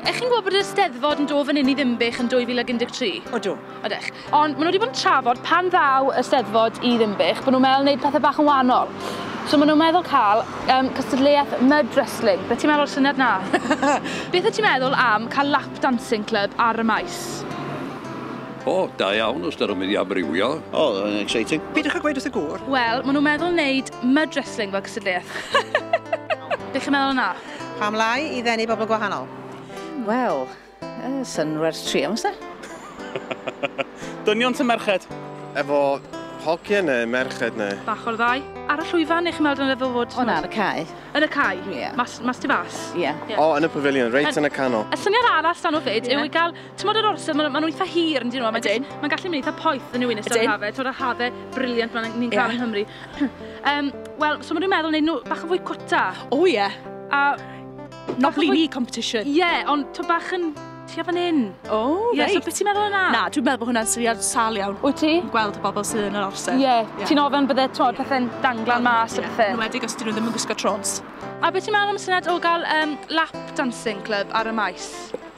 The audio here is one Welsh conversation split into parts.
Ych chi'n gwybod bod yr Eisteddfod yn dod fan hyn i Ddinbych yn 2013? Odw. Odych. Ond maen nhw wedi bod yn trafod pan ddaw y Steddfod i Ddinbych, bod nhw'n meddwl wneud pethau bach yn wahanol. So maen nhw'n meddwl cael um, cystadleuaeth mud wrestling. Beth ti'n meddwl o'r syniad na? Beth wyt ti'n meddwl am cael lap dancing club ar y maes? O, oh, da iawn os dyr yn mynd i amrywio. O, oh, yn exciting. Pidwch â gweud wrth y gŵr. Wel, maen nhw'n meddwl wneud mud wrestling fel cystadleuaeth. Beth chi'n meddwl yna? Pam lai i ddenu bobl gwahanol? Wel, uh, sy'n werth tri am ysda. Dynion sy'n merched. Efo hogiau neu merched neu? Bach o'r ddau. Ar y llwyfan, eich meddwl yn y fywod? O na, yn y cae. Yn y cae? Ie. Yeah. Mas, mas ti fas? Ie. Yeah. Yeah. O, yn y pavilion, reit yeah. yn y canol. Y syniad arall dan o fyd yw i gael Tymod yr orsedd, maen nhw'n eitha hir yn dyn nhw. Ydyn. Mae'n gallu mynd eitha poeth yn yw'n ystod hafe. Tymod y hafe briliant maen nhw'n cael yng Nghymru. um, Wel, so maen nhw'n meddwl wneud nhw bach yn fwy cwta. O ie. A... Not really competition. Ie, yeah, ond to bach yn tua fan hyn. O, oh, yeah, reit. So beth ti'n meddwl yna? Na, dwi'n meddwl bod hwnna'n syniad sal iawn. Wyt ti? Yn gweld y bobl sydd yn yr orsedd. Ie, yeah. yeah. ti'n ofyn bydde tod yeah. pethau'n danglan mas yeah. a pethau. Yn wedi gos dyn nhw ddim yn gwisgo trons. A beth ti'n meddwl am syniad o gael um, lap dancing club ar y maes?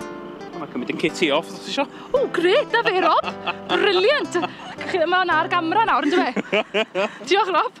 Mae'n mae'n cymryd yn Katie off, os eisiau. O, gret, na fe, Rob. Brilliant. Mae hwnna ar gamera nawr, yn dwi? Diolch, Rob.